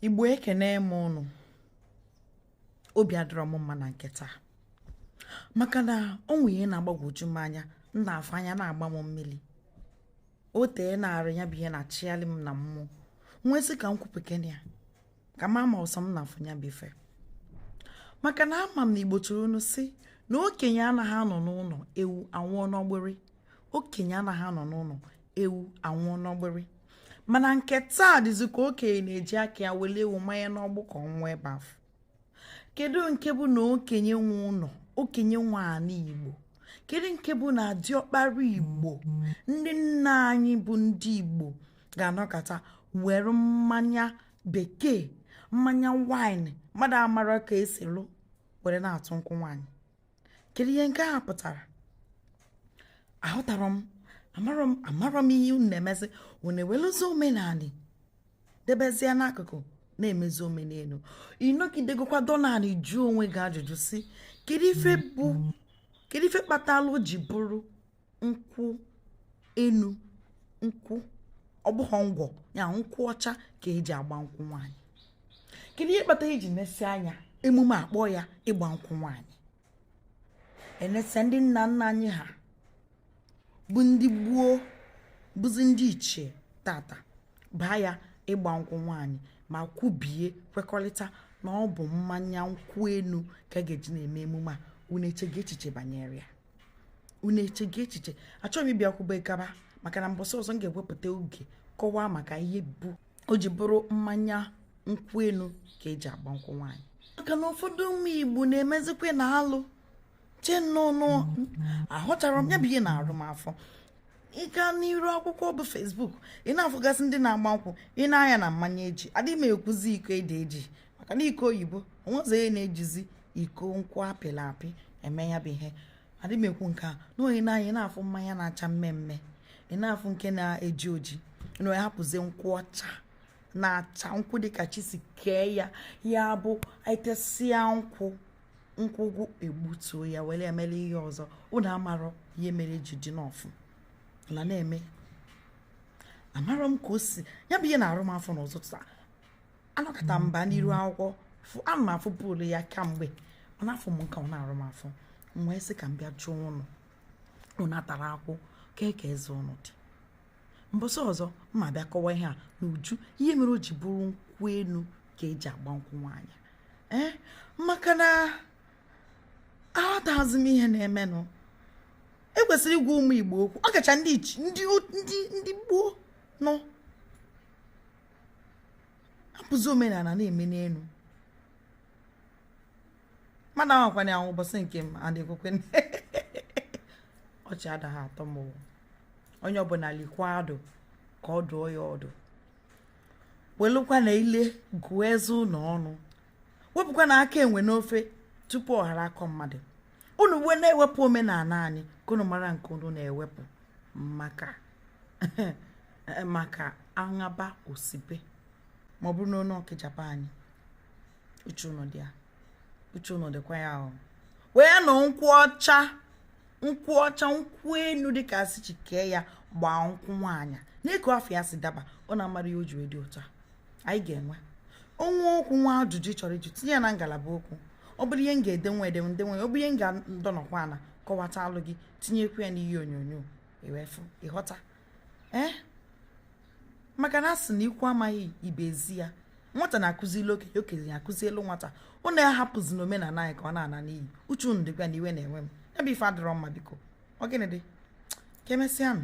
igbo ekene m ụnụ obi adịrọ m mma na nke taa maka na o nwe ihe na-agbagwoju m anya m na-afụ anya na-agba m mmili o teena arị ya bụ ihe na-achịghalị m na mmụọ m wee sị ka m kwupụkene ya ka m ma ma ọ sọ m na-afụ ya bụ ife maka na ama m na igbo tụrụ inu sị na okenye anaghị anọ n'ụnọ ewu anwụọ n'ọgbịrị okenye anaghị anọ n'ụnọ ewu anwụọ n'ọgbịrị mana nke taa dịzi ka okenye na-eji aka ya wele ewu manye n'ọgbụ ka ọ nwụa ebe afụ kedu nke bụ na okenye nwe ụnọ okenye nwe anị igbo kedu nke bụ na diọkpara igbo ndị nna anyị bụ ndị igbo ga-anọkata were mmanya bekee mmanya wine mmadụ amarọ ka e si lụ were na-atụ nkwụ nwaanyị kedu ihe nke a pụtara aghọtarọ m amarọ m ihe unu na-emezi unu ewelụzi omenanị debezie n'akụkụ na-emezi omenelu ị nọgidegokwa dọ n'anị jụọ onwe gị ajụjụ sị kedu ife bụ kedu ife kpatalụ o ji bụrụ nkwụ enu nkwụ ọ bụghị ngwọ ya nkwụ ọcha ka e ji agba nkwụ nwaanyị kedu ihe kpata e ji nesịa anya emume a kpọọ ya ịgba nkwụ nwaanyị e nesịa ndị nna nna anyị ha bụ ndị gboo bụzi ndị ichie tata baa ya ịgba nkwụ nwaanyị ma kwubie kwekọrịta na ọ bụ mmanya nkwụ enu ka a ga-eji na-eme emume a unu echego echiche banyere ya unu echego echiche achọghị m ịbịa kwube gaba maka na mbọsị ọzọ m ga-ewepụta oge kọwaa maka ihe bụ o ji bụrụ mmanya nkwụ enu ka e ji agba nkwụ nwaanyị maka na ụfọdụ ụmụ igbo na-emezikwana alụ chee nnọọ ahụchara m ya bụ ihe na-arụ m afọ ị gaa n'iru akwụkwọ bụ facebook ị na-afụgasị ndị na-agba nkwụ ị nee anya na mmanya e ji adịghị m ekwuzi iko ede eji maka na iko oyibo o nwezi onye na-ejizi iko nkwụ apịla apị eme ya bụ ihe adịghị m ekwu nke a na onye na anyị na-afụ mmanya na-acha mmee mmee ị na-afụ nke na-eji oji na onye hapụzie nkwụ ọcha na-acha nkwụ dịka chi si kee ya ya bụ e tesịa nkwụ nkwụ gwụ e gbutuo ya were emela ihe ọzọ ụnụ amarọ ihe mere ji dị n'ọfụ na na-eme amarọ m ka o si ya bụ ihe na-arụ m afọ n'ụtụtụ a anọkata m baa n'iru akwụkwọ ana m afụbulu ya kamgbe ọ na-afụ m nke ọ na-arụ m afọ m wee sị ka m bịa jụọ ụnụ ụnụ atara akwụ kee ka eze ụnụ dị mbọsị ọzọ m ma-abịa kọwaa ihe a n'uju ihe mere o ji bụrụ nkwụ enu ka e ji agba nkwụ nwaanyị ee maka na aghọtaghịzi m ihe na-emenụ e kwesịrị ịgwa ụmụ igbo okwu ọ kacha ndị ichi- ndị o- ndị ndị gboo nọ abụzi omenala na-eme n'elu mmadụ ahụkwana ahụ ụbọchị nke m adịkwekwe ọchị adaghị atọ m onye ọbụla likwa adụ ka ọ dụọ ya ọdụ welụkwanụ ile gụọ eze unu ọnụ wepụkwanụ aka enwe n'ofe tupu ọ ghọrọ aka mmadụ unu wee na-ewepụ omenala anyị ka unu mara nke unu na-ewepụ maka aṅaba osibe ma ọ bụrụ na onye ọkịjapa anyị uche unu dị ya uche unu dịkwa ya o wee nụ nkwụ ọcha nkwụ ọcha nkwụ enu dịka a sị Chike ya gbaa nkwụ nwaanyị n'ịkụ afọ ya si daba ọ na-amara ihe o ji dị ụtọ anyị ga-enwe o nwee okwu nwee ajụjụ ị chọrọ ịjụ tinye ya na ngalaba okwu ọ bụrụ ihe m ga-ede m wee dee ọ bụrụ ihe m ga-adọnọkwa ala kọwatalụ gị tinyekwu ya n'ihe onyonyo ewefu ịghọta ee eh? maka na a sị na ikwu amaghị ibe ezi ya nwata na-akụzili okenye okenye akụzielu nwata unu ahapụzina omenala anyị ka ọ na-ana n'iyi uche unu dịkwa na iwe na-ewe m ya bụ ife adịrọ mma biko ọ gịnị dị ka emesịanụ